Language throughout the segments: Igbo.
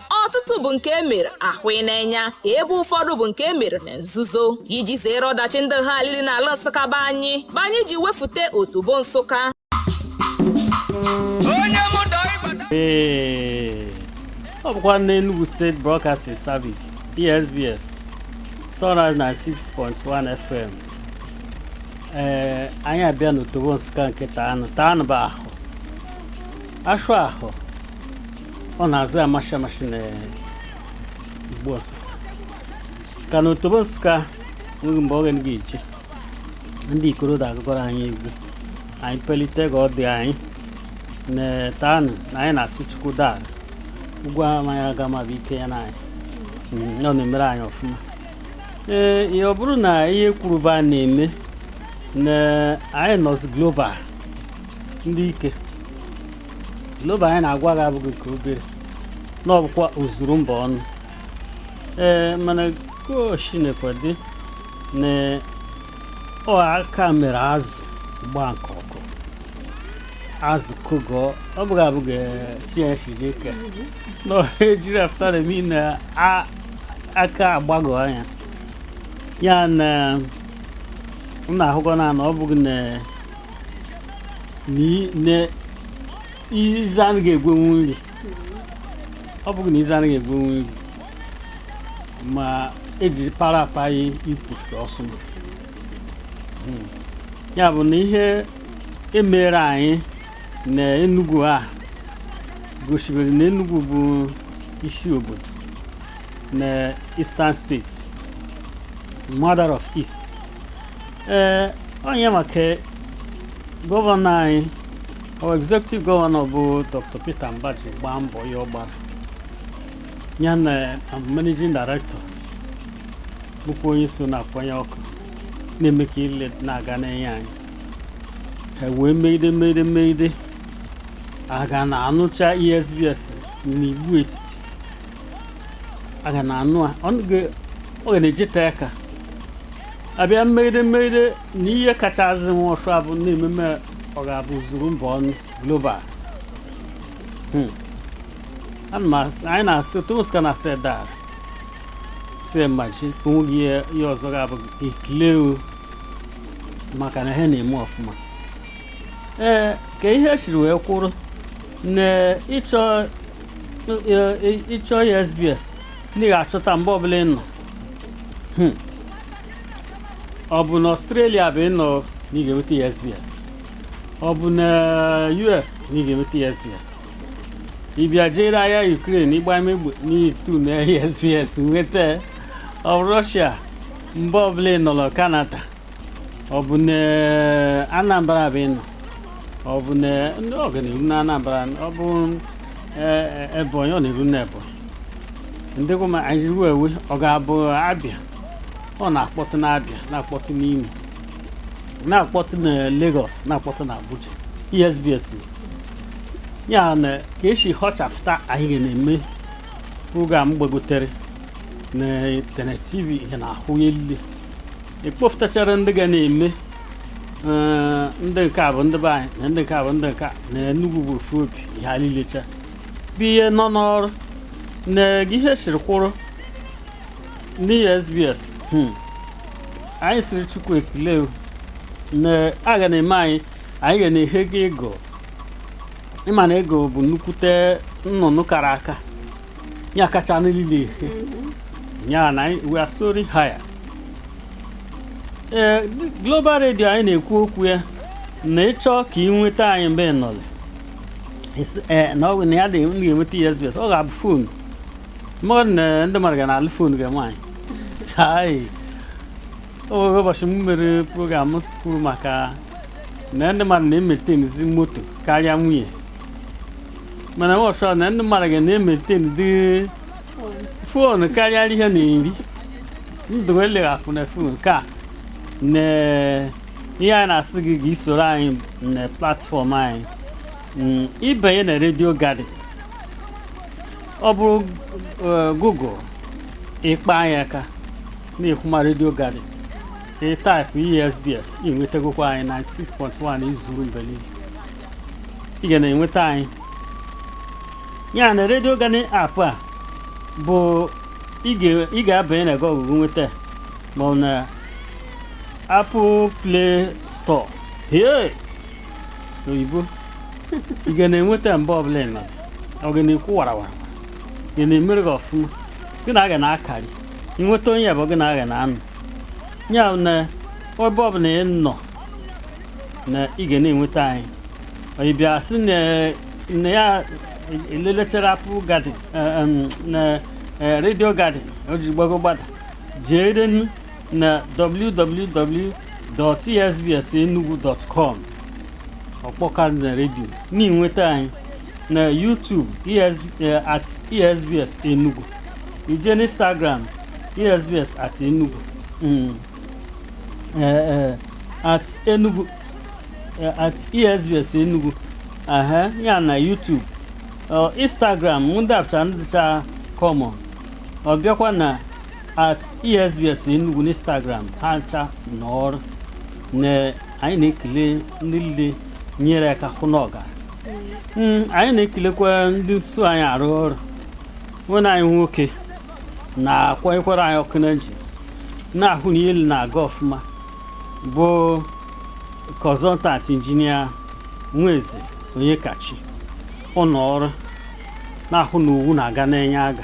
ọtụtụ bụ nke e mere a hụ n'enya ebe ụfọdụ bụ nke e mere na nzuzo iji zere ọdachi ndị ha alili n'ala nsụka be anyị bụ anyị ji wefute otobo nsụka Ee, ọ bụkwa ndị Enugu State Broadcasting Service ESBS Sunrise 96.1 FM ee anyị abịa n'otobo Nsụka nke taanụ taanụ bụ ahọ ashụa ahọ ọ na-azụ amashi amashi na igbo nsụka ka na otobo nsụka nweghị mgbe oge ga iche ndị ikorodo akụgoro anyị egwu anyị pelite ka ọ dị anyị na taanụ na anyị na-asị chukwu daa ugwu amaghị aga ma bụ ike ya na anyị Mm, ọ na-emere anyị ọfụma ee ihe ọ bụrụ na ihe kwuruba a na-eme na anyị nọzi global ndị ike global anyị na-agwa gị abụghị nke obere na ọ bụkwa ozuru mba ọnụ ee mana goshi na-ekwedị na ọ aka mere azụ gbaa nke ọkụ azụ kụgọọ ọ bụghị abụghị chinchi dị ka na ejiri afụta na emi na a- aka agbagọ anya ya na m na-ahụkọ na na ọ bụghị na na ize anaghị egwenwu nri ọ bụghị na ize anaghị egwenwu nri ma eji para apa ya ikwu ọsụma ya bụ na ihe emere anyị na Enugu a gosibere na Enugu bụ isi obodo na Eastern States mother of East ee onye maka gọvanọ anyị our executive gọvanọ bụ dr peter mbah ji gbaa mbọ ya ọ gbara ya na um, managing director bụkwa onye so na-akwanye ọkụ na-eme ka ihe na-aga n'enye anyị ha wee megide megide megide a ga na-anụcha esbs n'igbo etiti a ga na-anụ a ọ ga- ọ ga na-ejeta aka a bịa megide megide na ihe kachazị nwa ọsụ abụ na ememe ọ ga-abụ zuru mba ọnụ global Hmm. Ana m asị- anyị na-asị ụmụ nsụka na asị daa si mmachi onweghị ihe ihe ọzọ ga-abụ ekele o maka na ha na-eme ọfụma ee ka ihe siri wee kwụrụ na ịchọ ịchọ esbs na ị ga-achọta mgbe ọbụla ị nọ Hmm. ọ bụ na ọstrelia be ị nọ na ị ga-enweta esbs ọ bụ na us na ị ga-enweta esbs ị bịa jere ahịa ukraine ịgba egbe na ị tune esbs nweta ya. ọ bụ rọshia mbe ọbụla ị nọrọ kanada ọ bụ na anambra be ị nọ ọ bụ na ndị ọ ga na-eru na anambra ọ bụ eh, eh, ebonyi ọ na-eru na ebonyi ndị gụma anyị ruo ewe ọ ga-abụ abịa ọ na-akpọtụ n'abịa na-akpọtụ n'imo na-akpọtụ na Lagos na-akpọtụ na Abuja esbs ya na ka e si họchafụta anyị ga na-eme program gbagotere na internet tv ihe na-ahụ ya elile ekpofụtachara ndị ga na-eme eh, ndị nke a bụ ndị be anyị na ndị nke a bụ ndị nke a na Enugu bụ ofu obi ihe a nilecha bụ ihe nọ n'ọrụ na ihe siri kwụrụ n'ESBS hmm. anyị sịrị Chukwu ekele na a ga na-eme anyị anyị ga na-ehe ga eagle ị ma na eagle bụ nnukwute nnụnụ kara aka ya kacha nile ya na we are soaring higher ee global radio anyị na-ekwu okwu ya na ịchọ ka ị nweta anyị mbe ị nọrọ eh, na ọ na ya dị m ga-enweta ESBS ọ ga-abụ fon mmadụ na ndị mmadụ ga na-alụ fon ga nwaanyị Hai. o nwere ụbọchị m mere program m kwuru maka na ndị mmadụ na-emaintainizi moto karịa nwunye mana ụbọchị ọ na ndị mmadụ ga na-emaintainidị fon karịa ihe na-eri ndụ eleghapụ na fon nke a na ihe a na-asị gị ga i soro anyị na platfọm anyị mm, ị banye na redio garden ọ bụrụ eh, google ị kpa anyị aka na-ekwu ma redio garden ị taipụ esbs ị nwetagokwa anyị 96.1 i zuru mbe lile ị ga na-enweta anyị ya na redio garden app a bụ ị ga- ị ga-abanye na gọgụgụ nweta ma ọ na Apple Play Store. Hey! Oyibo. Ị ga na-enweta mbe ọbụla ị nọ. Ọ ga na-ekwu warawara. Ga na-emere gị ọfụma. Gị na a ga na-akarị. Ị nweta onye bụ gị na a ga na-anọ. Ya na ebe ọbụla ị nọ na ị ga na-enweta anyị. Onye bịa sị na na ya elelechara Apple Garden eh, em, na eh, Radio Garden o ji gbago gbada. Jee renu na www.esbsenugu.com ọkpọka na redio na-enweta anyị na YouTube ES, eh, at esbs enugu i je na Instagram esbs at enugu mm. eh, eh, at enugu eh, at esbs enugu aha ya na YouTube ọ Instagram ndị afcha ndịcha common ọ bịakwa na at esbs enugu n'instagram ha ncha na ọrụ na anyị na-ekele ndị niile nyere aka hụ na ọ ga Mm, anyị na-ekelekwa ndị nso anyị arụ ọrụ nwanne anyị nwoke na-akwanyekwara anyị ọkụ na nji na-ahụ na ihe na-aga ọfụma bụ consultant injinia Nweze Onyekachi ụlọ ọrụ na-ahụ na owu na-aga na-enye aga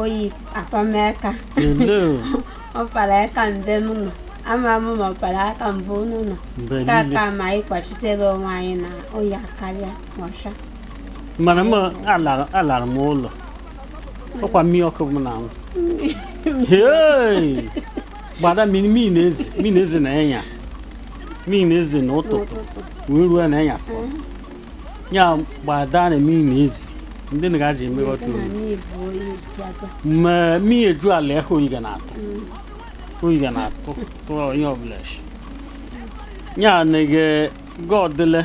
oyi akpama aka ọ kpara aka mbe m nọ ama m ma ọ kpara aka mbe unu nọ kama anyị kwachitere onwe anyị na oyi akarịa ọcha Mana m alara m ụlọ. Ọkwa mmiri ọkụ m na-anwụ. Hey! Gbada mmiri na-ezo na enyasị. Mmiri na-ezo n'ụtụtụ wee ruo na enyasị. ya gbada na mmiri na-ezo ndị na gaji eme ọtụ ma mmiri eju ala ehe oyi ga na-atụ oyi ga na-atụ tụọ onye ọbụla shi ya na-ege godele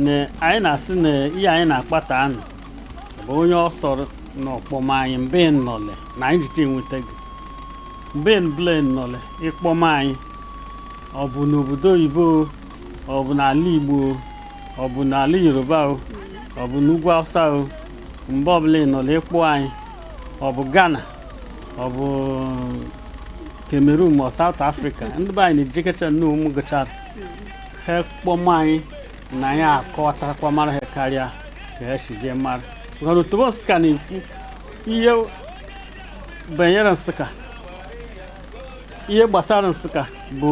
na anyị na-asị na ihe anyị na-akpa taa nụ bụ onye ọ sọrọ na ọ kpọma anyị mbe nnọle na anyị jite enweta gị mbe ọbụla ị nọle ị kpọma anyị ọ bụ n'obodo oyibo ọ bụ n'ala igbo ọ bụ n'ala yoruba o ọ bụ n'ugwu awụsa o mgbe ọbụla ị nọla ị kpọ anyị ọ bụ ghana ọ bụ cameroon ma ọ south africa ndị be anyị na-ejekecha nne ụmụ gụchara ha kpọma anyị na anyị akọwatakwa mara ha karịa ka ha si ji mara maka na otobo nsụka na-ekwu ihe banyere nsụka ihe gbasara nsụka bụ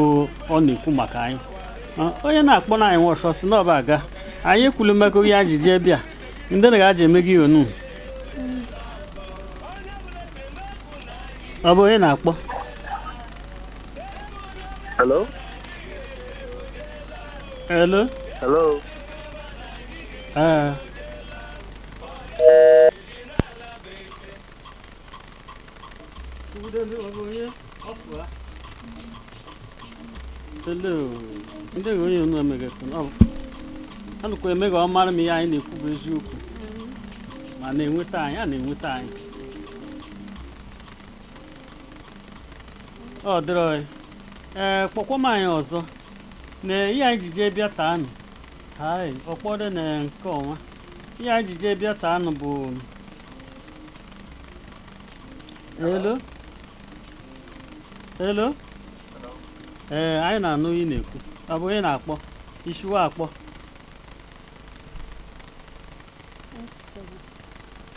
ọ na-ekwu maka anyị onye na-akpọ na anyị nwọchọ si n'ọba aga anyị ekwulu mmekọ ihe anyị ji bịa ndị na ga-aji eme gị onu ọ bụ onye na-akpọ Hello? Hello? Hello? ee ndị gị onye nọ megekwu anụkwa eme ka ọ mara ma ihe anyị na-ekwu bụ eziokwu ma na-enweta anyị a na-enweta anyị ọ dịrọ ee kpọkwa m anyị ọzọ na ihe anyị ji jee bịa taa nụ hai ọ kpọdụ na nke ọnwa ihe anyị ji jee bịa taa nụ bụ Hello? Hello? Ee, anyị na-anụ ihe ị na-ekwu. Ọ bụ onye na-akpọ. I shi we akpọ.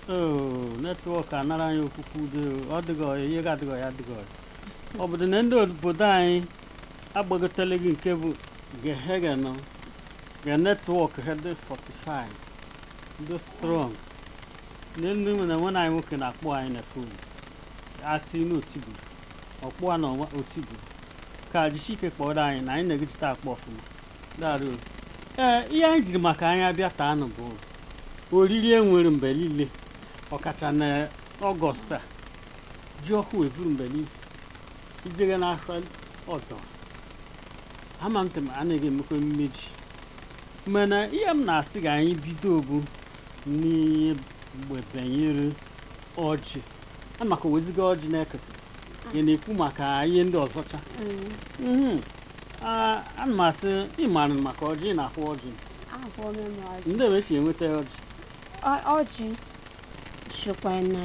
Oo, netwọk anara anyị okwukwu udo. Ọ dịghị ọyị, ihe ga-adịghị ọyị adịghị ọyị. Ọ bụdị na ndị obodo anyị agbagotele gị nke bụ gehege nọ. Ga netwọk ha dị 45. Dị strọng. Ndị ndị nwe na nwanne anyị nwoke na-akpọ anyị na fon ati na otibu ọkpụ a na ọnwa otibu ka jisi ike kpọrọ anyị na anyị na-egejita akpọ ọfụma daarụ ee ihe anyị jiri maka anyị abịa taa nụ bụ oriri e nwere mgbe niile ọkacha na ọgọst a ji ọhụ e vuru mgbe niile i jere n'ahịa ọdọ ama m tem anaghị emekwa emume ji mana ihe m na-asị ka anyị bido bụ n'ihe mgbe banyere ọjị a maka o weziga ọjị na-eketa ị na-ekwu maka ihe ndị ọzọcha Mhm. Ah, ana m asị ị mara maka ọjị ị na-ahụ ọjị ahụọla m ọjị ndị ebe e si enweta ọjị Ọ- ọjị shikwa na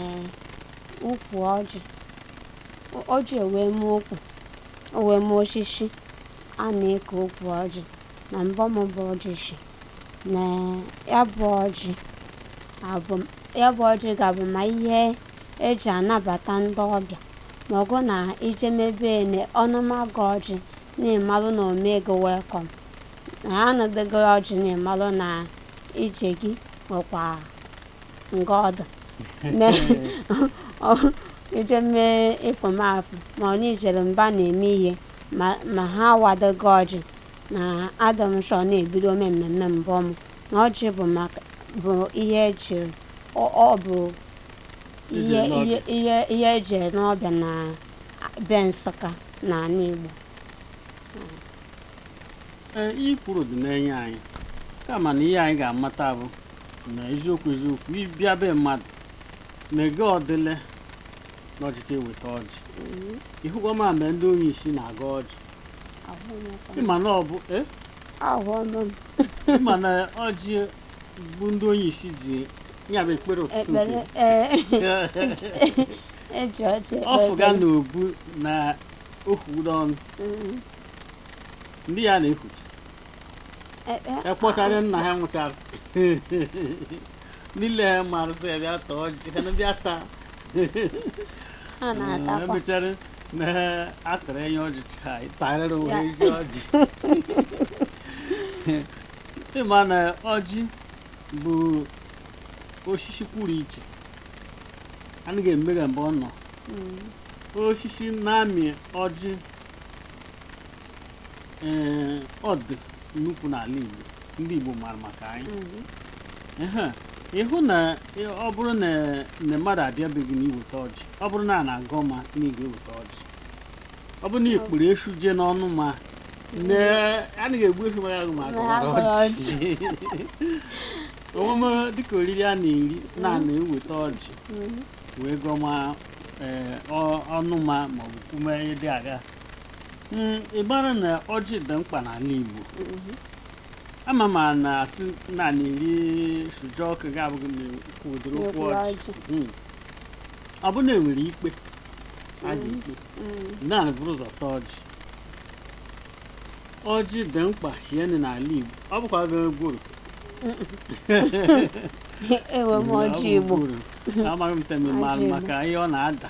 ukwu ọjị O- ọjị o wee mee ukwu o wee mee osisi a na-eke ukwu ọjị na mbụ mbụ ọjị shi na ya bụ ọjị abụ ya bụ ọjị ga-abụ ma ihe e ji anabata ndị ọbịa ma ọ bụ na i jeme be ene ọ nụma gị ọjị na-emalụ na o mee gị welkọm na anọdụ gị ọjị na-emalụ na ije gị nwekwa nga ọdụ i jeme ịfụmafụ ma ọ na i jere mba na-eme ihe ma ha wado gị ọjị na adọ m chọọ na-ebido ome mmemme mbụ m na ọjị bụ maka bụ ihe ejiri ọ ọ bụ ihe Ejiri n'ọbịa. ihe ihe ihe ejiri n'ọbịa na be Nsụka na ala Igbo ihe i kwuru dị n'enye anyị kama na ihe anyị ga-amata bụ na eziokwu eziokwu ị bịa be mmadụ na ga ọ dịle na ọ jịta eweta ọjị ị hụkwa ma mgbe ndị onye isi na-aga ọjị ịma na ọ bụ eh? ịma na ọjị bụ ndị onye isi ji ya bụ ekpere ụtụtụ ọ fụga na obu na okwudo ọnụ mm. ndị ya na-ekwuchi ekpọchara nna ha nwụchara niile mara sị ya bịa taa ọjị ha na bịa taa emechara na atụrụ enye ọjị taa ịtarịrị ụwa Ya. iji ọjị ịma na ọjị bụ osisi kwuru iche anaghị emega mgbe ọ nọ osisi na-amị ọjị ee ọ dụ nnukwu n'ala Igbo ndị Igbo mara maka ya Ehe, ịhụ na ị- ọ bụrụ na na mmadụ abịa be gị na iweta ọjị ọ bụrụ na a na-agọ ma na ị ga-eweta ọjị ọ bụrụ na ị kpụrụ eshu jee n'ọnụ ma na anaghị egbu eshu mara agụ ma agụ mara Agụ mara ọjị omume dịka oriri a na-eri na a na-eweta ọjị wee gọọ ma ee, ọ- ọnụ ma maọbụ kwume ihe dị aga Mm, ị mara na ọjị dị mkpa n'ala Igbo ama m a na-asị naanị iri sụjọ ọkụ gị abụghị na ụkwụ ụdịrị okwu N'okpuru ọjị ọjị. Mm. ọ bụ na enwere ikpe a ga-ekpe Mm. naanị buru ụzọ taa ọjị ọjị dị mkpa shinne n'ala Igbo ọ bụkwa ebe gworo ewe m ọjị igbo amaghị m temime Ọjị Igbo. maka ihe ọ na-ada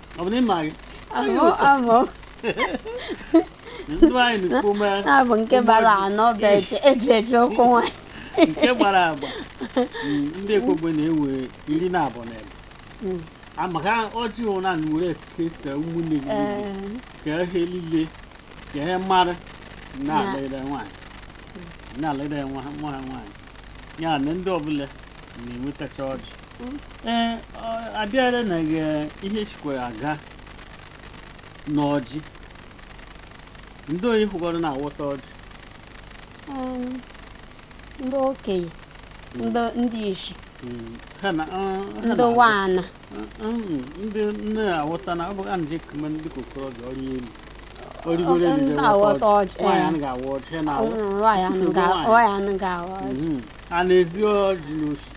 ọ bụ na ị ma gị Abụ abụ ndụ anyị na ume abụ nke gbara anọ bụ eji eji eji okwu nwanyị. nke gbara agba Mm, ndị Ekwegbe na-ewe iri na abụọ na ebe Mm. maka ọjị ahụ na were kesa ụmụnne gị niile, Ee, ka ihe niile ka ihe mmadụ na-alere nwaanyị na-alere nwa ha nwa ha nwaanyị ya na ndị ọbụla na-enwetacha ọjị ee abịara na ihe sikwara aga n'ọjị ndị oyi hụgọrọ na-awọta ọjị ndị okenye ndị isi ndị nwaana ndị nne awọta na ọ bụ a na-eji ekeme ndị okorobịa ọrụ elu origoro elu na-awọta ọjị nwaanyị anaghị awọ ọjị ha na-awọ nwaanyị anaghị awọ ọjị a na-ezi ọjị n'oshi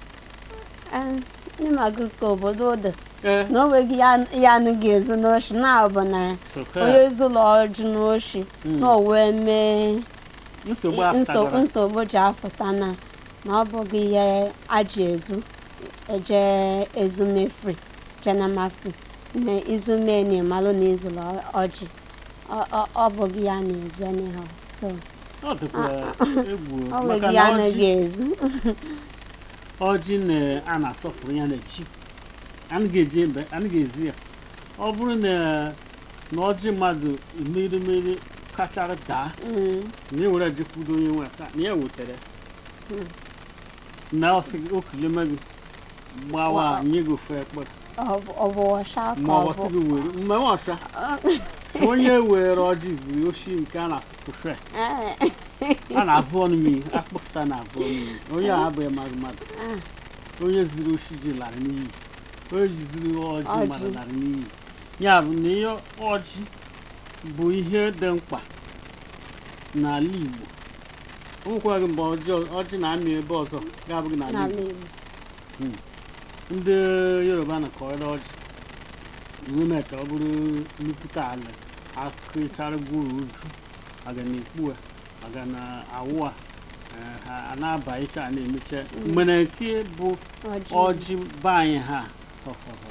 ị magọ ka obodo dị Ee. na o nweghị ya- ya anaghị ezu n'oshi na ọ bụ na Oke. onye zulu ọjị n'oshi na o wee mee nsogbu nso- apụtagoro nsogbu ji afụta na na ọ bụghị ihe a ji ezu eje ezumefri jenamafri na izume na ịmalụ na i zulu ọjị Ọ- ọ- ọ bụghị ya na-ezu anyhow so ọ dịkwa egwu ọ maka nweghị na ya ọjị anaghị ezu ọjị na a na-asọpụrụ ya na chi anyị ga-eji ebe anaghị ezi ya ọ bụrụ na na ọjị mmadụ mịrị mịrị kachara daa Mm. na e were jekwudo onye nwe ya sị na ya wetara na ọ sị ekele m gị gbawa Wow. nye gị ofu mkpụrụ ọ bụ ọsha ka ma ọ ọ sị bụ gị were mgbe m ọsha onye were ọjị ziri oshi nke a na-asị kụfe Ee, a na-avụ ọnụ mmiri akpọfụta na-avụ ọnụ mmiri onye a abụghị mmadụ mmadụ onye ziri oshi ji lara n'iyi onye ji ziri ọjị Ọjị. mmadụ lara n'iyi ya bụ na ihe ọjị bụ ihe dị mkpa n'ala Igbo o nwekwaghị mgbe ọjị ọjị na-amị ebe ọzọ ga-abụghị n'ala n'ala Igbo Igbo Hmm. ndị Yoruba na-akọrọ ọjị iwu mee ka ọ bụrụ nnukwute ala akụchara gworo ju a ga na-ekpu a a ga na-awụ a eh, ha a na-aba iche a na-emeche mana nke bụ ọjị be anyị ha họhọhọ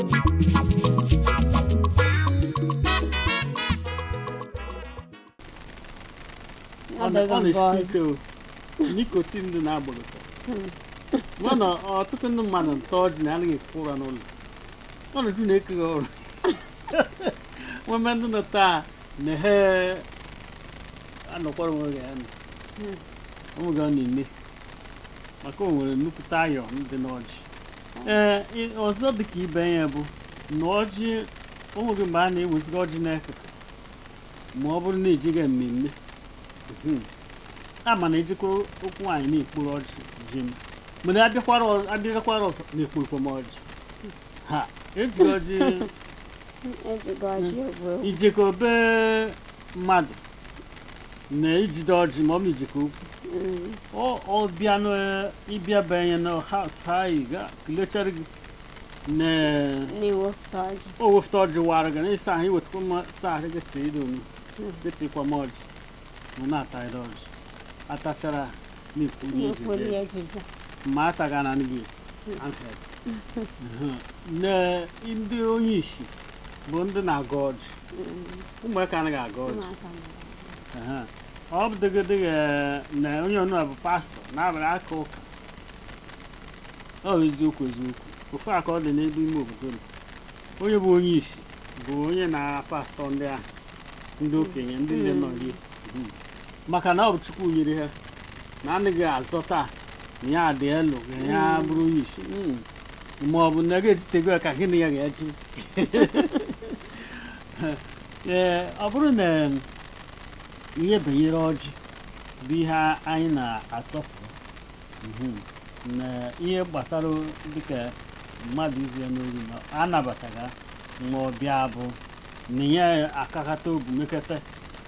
Ọ dịghị nke na-esi ọzọ. ike o nicotine dị na gworo mana ọtụtụ ndị mmadụ nta ọjị na anaghị eku ụra n'ụlọ ọnọdụ na-ekeghị ọrụ nweme ndị nọ taa na ha anọkwara onwe ya nọ onwe ga ọ na-eme maka o nwere nnukwute iron dị n'ọjị ee ị- ọzọ dị ka ibe ya bụ na ọjị o nweghị mgbe a na-ewezụga ọjị n'akụkụ ma ọ bụrụ na ejega mmemme Mhm. a ma na ejekwa okwu nwaanyị na-ekporo ọjị je m mana abịakwara ọ- abịakwara ọzọ na-ekporokwa m ọjị ha eji ọjị ejigọ ji bụ ijekọ be mmadụ na ijide ọjị ma ọ bụ ijekọ okwu ọ ọ bịa na ịbịa banye na house ha kelechara gị na na-ewepụta ọjị o wefụta ọjị wara gị na ịsa ahụ iwetakwa mma sa ahụ gị tee ido m gị tikwa m ọjị ma na-ata ịda ọjị atachara na-ekwu ihe na-ekwu ejide onye ji bịa ma ataghị na gị na ndị onye ishi bụ ndị na-agọ ọjị ụmụaka anaghị agọ ọjị ụmụaka mara. Aha. ọ bụrụgodi na onye ọnụ a bụ pastọ na-abara aka ụka ọ bụ eziokwu eziokwu ofu aka ọ dị n'ebe ime obodo nọ onye bụ onye isi bụ onye na pastọ ndị ahụ ndị okenye ndị nne nọ nri Mhm. maka na ọ bụ chukwu nyere ha na anaghị azọta na ya dị elu ka ya bụrụ onye isi Mm. ma ọ bụ na gị etitego ya ka gị na ya ga-echi ee ọ bụrụ na ihe banyere ọjị bụ ihe anyị na-asọpụrụ mhm, na ihe gbasara dịka mmadụ izu ya n'ori na anabataghị ma ọ bịa bụ na ya akakata obi mekata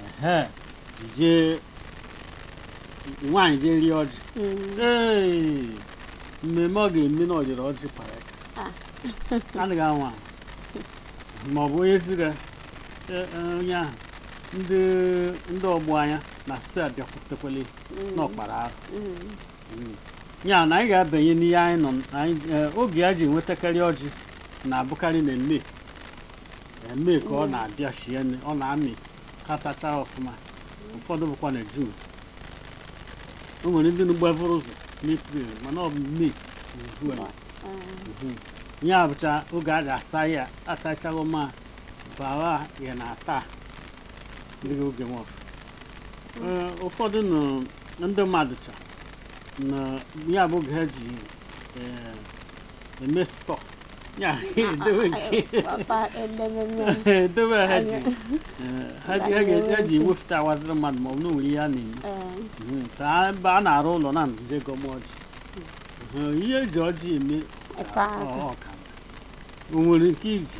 ehe jee nwaanyị jee rịa ọjị Mm. Hey! mmemme ọ ga-eme na ọ ghọrọ ọjị kpara aka Ah. anaghị anwa ma ọ bụ onye ziga e- e, onye ahụ ndị ndị ọgbọ ya ana-asị abịakwutekwala ya na ọ kpara arụ Mm. ya na anyị ga-abanye n'ihe anyị nọ n- anyị e, oge a ji enwetakarị ọjị na-abụkarị na Mee Mee ka ọ na-abịa shinne ọ na-amị katacha ọfụma ụfọdụ bụkwa na jun o nwere ndị gbavuru ụzọ n'epril mana ọ bụ mee uju a Mhm. ya bụcha oge a ga-asa ya asachago ma bawa ya na-ata ndị oge nwa afụ Ee, ụfọdụ nụ ndị mmadụ achọọ na ya bụ oge ha ji ee, The messed up. Yeah, do it. Papa, and then, and then, Do it, Haji. Haji, Haji, Haji, with that was the man, Mom, no, we are in. um, Ka ebe a na-arụ ụlọ na nje gọmọji. Ihe eji ọjị eme a- Ebe ahụ. ọ- ọ ka. O nwere nke iji.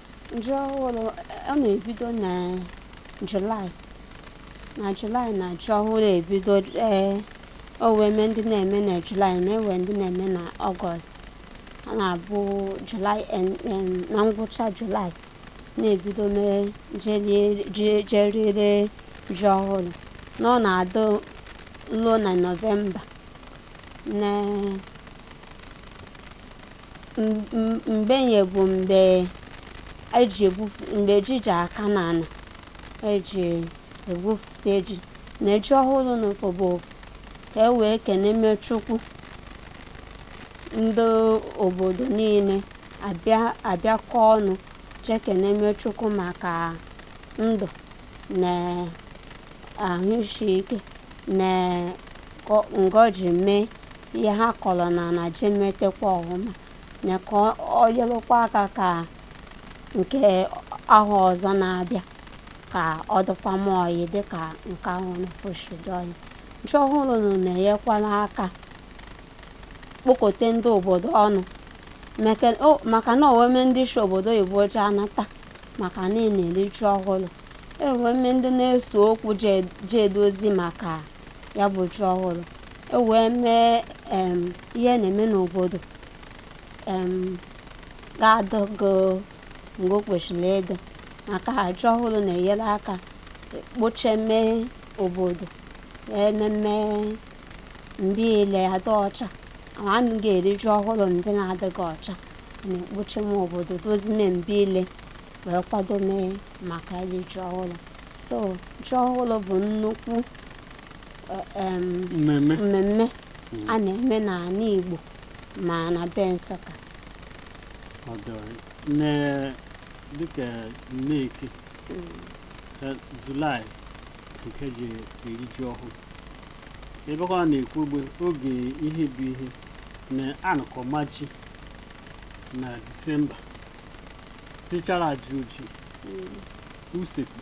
Ji ọhụrụ ọ na-ebido na Julaị na Julaị na ji ọhụrụ ebido ee o nwere ndị na-eme na Julaị ma nwee ndị na-eme na Ọgọst ọ na-abụ Julaị na ngwụcha Julaị na-ebido mee jee rie ji ọhụrụ na ọ na-adị ruo na Nọvemba na mgbe ya bụ mgbe eji egwufu mgbe ji ji aka n'ala eji egwufute ji na ji ọhụrụ nwa afụ bụ ka e wee keneme chukwu ndị obodo niile abịa abịakọ ọnụ jee keneme chukwu maka ndụ na ahụ isi ike na ngọzi mee ihe ha kọrọ na na ji emetekwa ọhụma na ka ọ- ọ nyelụkwa aka ka nke ahọ ọzọ na-abịa ka ọ dịkwama ọyị dịka nke ahụ na foshidi ọyị ji ọhụrụ nụ na-enyekwara aka kpokọta ndị obodo ọnụ maka na oweme ndị si obodo oyibo ji anata maka na ị na-eri ji ọhụrụ oweme ndị na-ese okwu ji edozi maka ya bụ ji ọhụrụ oweme em, ihe na-eme n'obodo em, ga-adịgo mbe o kwesịrị ịdị maka ji ọhụrụ na-enyere aka kpocheme obodo meme mbe ile adị ọcha ma anyị ga-eri ji ọhụrụ mbe na-adịghị ọcha na-ekpocheme obodo dozime mbe ile wee kwadome maka iri ji ọhụrụ so ji ọhụrụ bụ nnukwu eh, em, mmemme mmemme a na-eme n'ala Igbo ma na be Nsụka ọ dọrọ nne dịka nneki eh, julaị nke e ji eri ji ọhụrụ ebe ọ na-ekwu ugbo oge ihe bụ ihe na a na-akọma ji na disemba tichara ji oji usekwu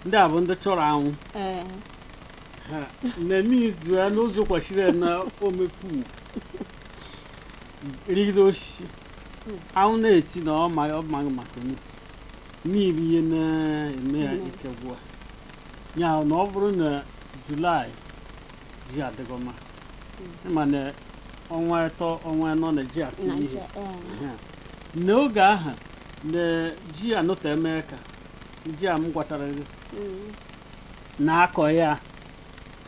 ndị a bụ ndị chọrọ anwụ na mmiri izu ya n'ụzọ kwesịrị na ome pu rigide osisi anwụ na-eti na ọ ma- ọ maghị maka onye mmiri ihe na-eme ya ike gwụa ya na ọ bụrụ na julaị ji adịgo mma ịma na ọnwa atọ ọnwa anọ na ji ati ihe n'oge ahụ na ji anọta eme ka ji a m gwachara gị na-akọ ya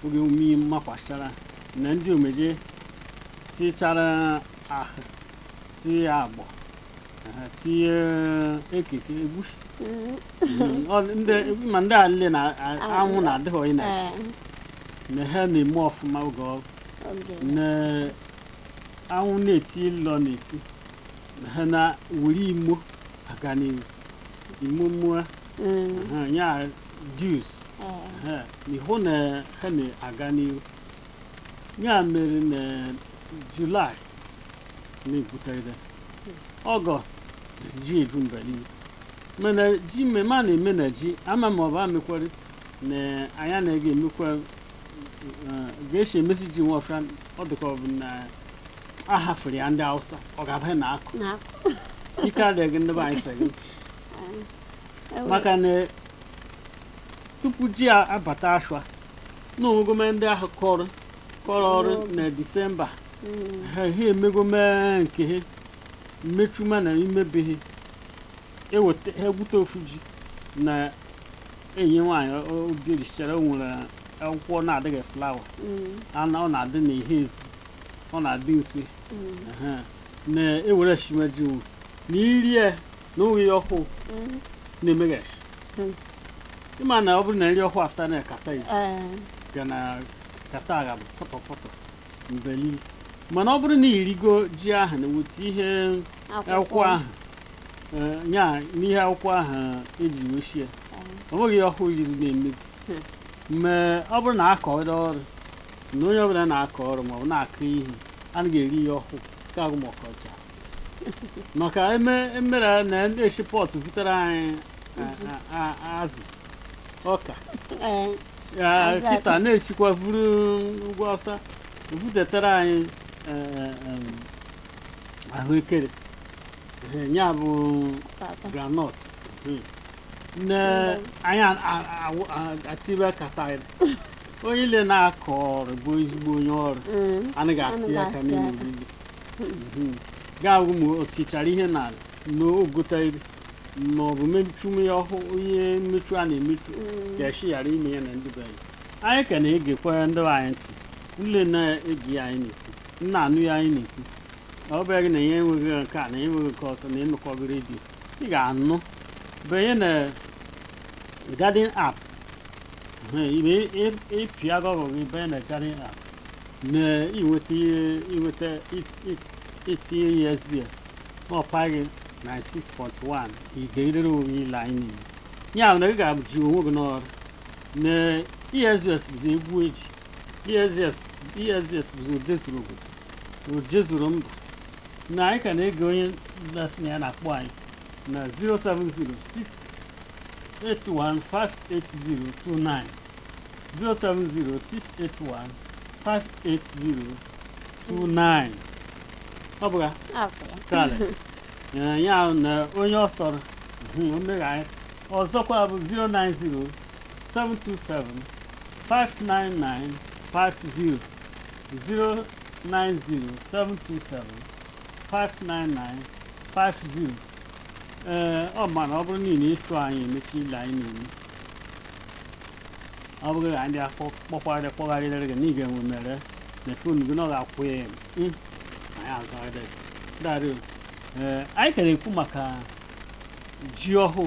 oge umi makwachara na ndị ome ji tichara ahụ tie agbọ aha, tie ekeke egwusi ma ndị a nile na anwụ na-adịghị onye na-esi na ha na-eme ọfụma oge ọ bụ na anwụ na-eti ịlọ na-eti na ha na-ewere imo aga n'ihu imo mmụọ ya jus eh, ha n'ihu na ha na-aga n'ihu ya mere na julaị na-ebutere ọgọst ji ebu mba niile mana ji mmemme a na-eme na ji ama ma ọ bụ amekwari na anyị anaghị eme ga-esi emesi ji nwa ọfịa ọ dịka ọ bụ na a hafụrụ ya ndị Hausa ọ ga-abanye na akụ na ike adịghị gị ndị be anyị sị gị ewe- maka na tupu ji a abata ashwa na omegome ndị ahụ kọrọ kọrọ ọrụ na disemba Mm, ha ha emegome nke ha mmechuma na imebeghị eweta ha egwute ofu ji na enyi nwaanyị o- o- obi ejichere o nwere akwụkwọ na-adịghị flawa Mm, ana ọ na-adị n'ihe ezi ọ na-adị nso mm, ehe, na-ewere shime ji nwu na iri ya na oge ya ọhụụ mm. na-emeghachi Hmm. ịma na ọ bụrụ na nri ọhụụ afta na kata ya Eh, ga na kata agha bụ fọtọ fọtọ mgbe ile mana ọ bụrụ na irigo ji ahụ na-ewete ihe akwụkwọ ahụ Ee, ya n'ihe akwụkwọ ahụ eji wee sie o nweghị ihe ọhụụ yiri na-emebi mgbe ọ bụrụ na akọrọ ọrụ na onye ọbụla na-akọ ọrụ maọbụ na-akụ ihe anaghị eri ihe ọhụụ ka agụ ma ọkọcha maka eme emere na ndị eshi pọtụ butere anyị Azụ. a- a- a- azụ ọka Ee, Ya, Azụ akụ. kịta na-esikwa vuru ugwu Hausa butetara anyị eh, eh, em, ahụekere ehe, ya bụ Tata. groundnut ehe. nne anyị a- a- awụ- a- atibe kata anyị. onye ile na-akọ ọrụ bụ ezigbo onye ọrụ Mm. anaghị ati Anaghị aka ati n'ime aka. obibi Mhm. ga-awụ ma o tichara ihe n'ala na ogota iri ma ọ bụ mechu ya ọhụụ ihe mmechu a na-emechu Mm. ga-eshi ghara ime ya na ndị be anyị anyị ka na-egekwa ndị be anyị ntị ile na-ege ihe anyị na-ekwu m na-anụ ihe anyị na-ekwu na ọ bụghị na ya enweghị nke a na ya enweghị nke ọzọ na ịnụkọghị redio ị ga-anụ banye na Garden app ibe ịpịa Google gị banye na Garden app na inweta ihe inweta it- it- itinye ESBS ma ọ bụghị 96.1 ị ga-egere onwe gị ile anyị niile ya bụ na ị ga-abụji onwe gị n'ọrụ na ESBS bụzi egwu eji ESBS ESBS bụzi odezuru obodo odezuru mba na anyị ka na-ege onye na-asị na ya na-akpọ anyị na 07068158029 07068158029 ọ bụ akara ya na onye ọ sọrọ mhm, o megha anyị ọzọkwa bụ 090 727 599 50 090 727 599 50 ee ọ mana ọ bụrụ niile ịsụ anyị emechi ihe anyị na-eme ọ bụrụ na ndị akpọkwarị kpọgharịrị gị na ị ga-enwe mere na fon gị na ọ ga-akwụ ya eme anyị azụgharịrị darị ee anyị ka na-ekwu maka ji ọhụụ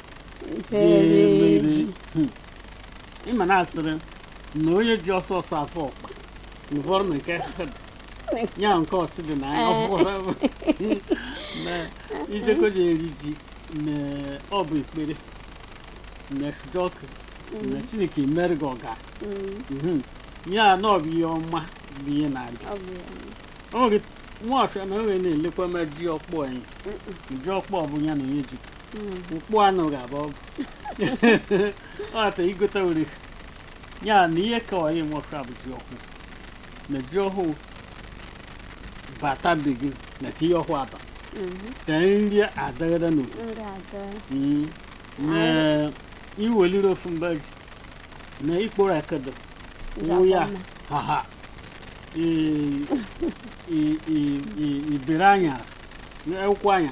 jereji Hmm. ị ma na a sịrị na onye ji ọsọ ọsọ afọ ọkpa nụfọrọ na nke ya nke ọtị dị na anya ọfụwara bụ na ijeko ji eri ji na ọ bụ ekpere na jọkụ na Chineke mere gị ọga Mhm. ya na ọ bụ ihe ọma bụ ihe na-abịa ọ bụ ya o nwere nwafịa na o nwere na-elekwa ma ji ọkpọ anyị ji ọkpọ bụ ya na onye ji mkpụ anụ ga-abụ ọgụ ọta i gote were ya na ihe ka ọyị nwoke a bụ ji ọhụụ na ji ọhụụ bata be gị na ihe ọhụụ aba ka nri adagada na Mm. na i weliri ofu mba ji na ikporo akedo wụ ya haha i- i- i- i- ibere anyara akwụkwọ anya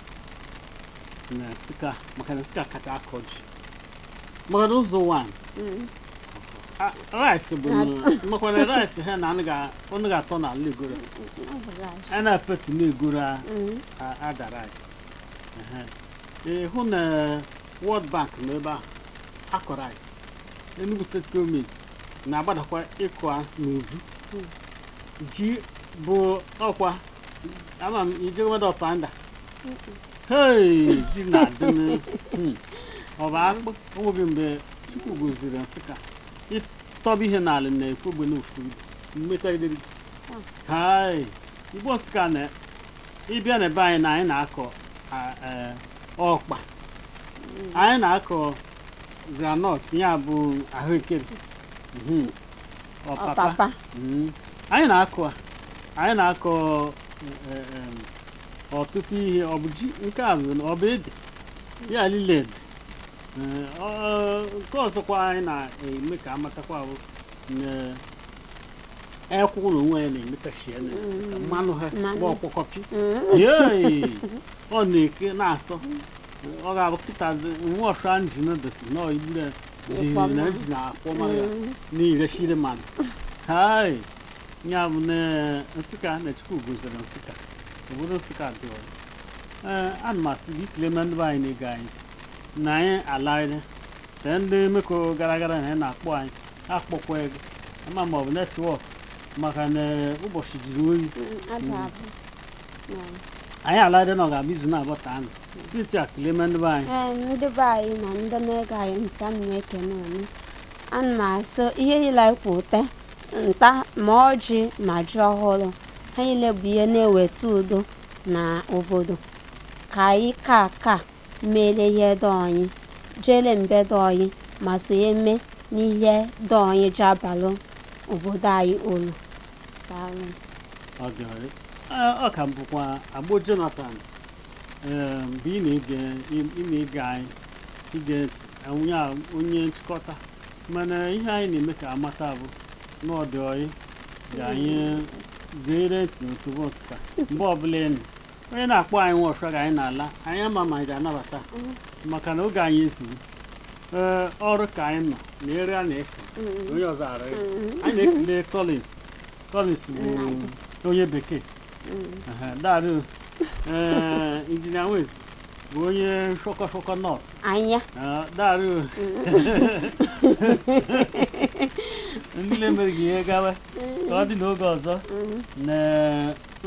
na Nsụka maka na Nsụka kacha akọ ji maka na Ụzọ Ụwanị Mm. rice bụ na- makwa na rice ha na anụ ga- ọnụ ga-atọ na ala egoro Ọ bụ rice. a na-epetu na egoro a Mm. a- Ada rice Ehe. Ee, hụ na World Bank nọ ebe ahụ akọ rice Enugu steeti gọọmenti na-agbadakwa ịkọ a n'uju ji bụ ọkwa ama m ije nweta Ọpanda ji na-adị hmm. ọ bụ akpụ o nweghị mgbe Chukwu goziri Nsụka ị tọba ihe n'ala na Ekwegbe n'ofu ibe mmekọrịrị hai Igbo Nsụka na ị bịa na ebe anyị na anyị na-akọ e, ọkpa anyị na-akọ granọt ya bụ ahụekere hmm. ọpapa hmm. anyị na-akọ anyị na-akọ eh, eh, em, ọtụtụ ihe ọ bụ ji nke a bụ na ọ bụ ede ya lile dị Eh, ọ- nke ọzọkwa anyị na-eme ka a matakwa bụ na ekwụ na onwe ya na-emetachi ya na-esi ka mmanụ ha Mmanụ. gba ọkpọkọpị yei ọ na-eke na-asọ ọ ga-abụ kịta nwa ọsha injin dịsị na ọyibure Ịkwa dịzi na mmanụ. injin akwọ mmanụ ya na-erechiri mmadụ hai ya bụ na nsụka na chukwu goziri nsụka obodo nsụka dị oyi ee ana m asị gị ikele na ndị be anyị na-ege anyị ntị na anyị alaghịrị na ndị meko gara gara na anyị na-akpọ anyị akpọkwa ego ama m ma ọ bụ netwọk maka na ụbọchị jiri oyi aja abụ anyị alaghịrị na ọ ga-abụ izu na-abụ taa nụ sinti a kelee m ndị be anyị ee ndị be anyị na ndị na-ege anyị ntị ana m ekene unu ana m asị ihe niile anyị kwuta nta ma ọjị ma ji ọhụrụ ha niile bụ ihe na-eweta udo n'obodo ka anyị ka ka mere ihe dị oyi jere mbe dị oyi ma sonye mee n'ihe dị oyi ja-abalụ obodo anyị uru Daalụ. Ọ dị oyi. Ee, ọ ka bụkwa agbo jonathan ee mgbe ị na-ege ị na-ege anyị ige ntị onye a- onye nchịkọta mana ihe anyị na-eme ka amata bụ na ọ dị oyi ga anyị gere ntị n'otobo nsụka mgbe ọbụla ị nụ onye na-akpọ anyị nwa ọfịa ga anyị na-ala anyị ama m ma anyị ga-anabata maka na oge anyị ezuru ee ọrụ ka anyị nọ na ere a na-efe onye ọzọ ara ya. anyị na-ekele Collins Collins bụ onye bekee Aha, daarụ ee injinia Nwezi bụ onye shọkọ shọkọ nọt anya Ah, daarụ o. ndị na-emere gị ihe gawa ka ọ dị n'oge ọzọ na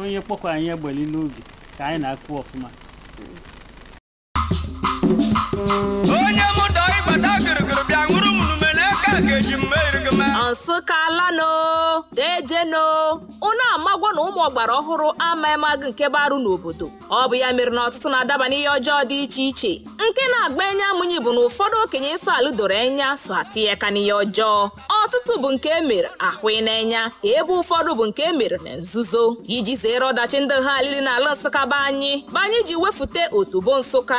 onye kpọkwa anyị egbeli n'oge ka anyị na-akụ ọfụma onye mụ dọ ịgbata gịrịgịrị bịa nụrụ m numele aka ka eji mma erigị ma nsụka ala nụ deje nụ unu amagwo na ụmụ ọgbara ọhụrụ amaghị magụ nke bụ arụ n'obodo ọ bụ ya mere na ọtụtụ na-adaba n'ihe ọjọọ dị iche iche nke na-agba enye amụnyi bụ na ụfọdụ okenye nsọ alụ doro enya so atinye aka n'ihe ọjọọ ọtụtụ bụ nke e mere ahụ n'enya ebe ụfọdụ bụ nke e mere na nzuzo iji zere ọdachi ndị ha alili n'ala nsụka be anyị bụ anyị ji wefute otobo nsụka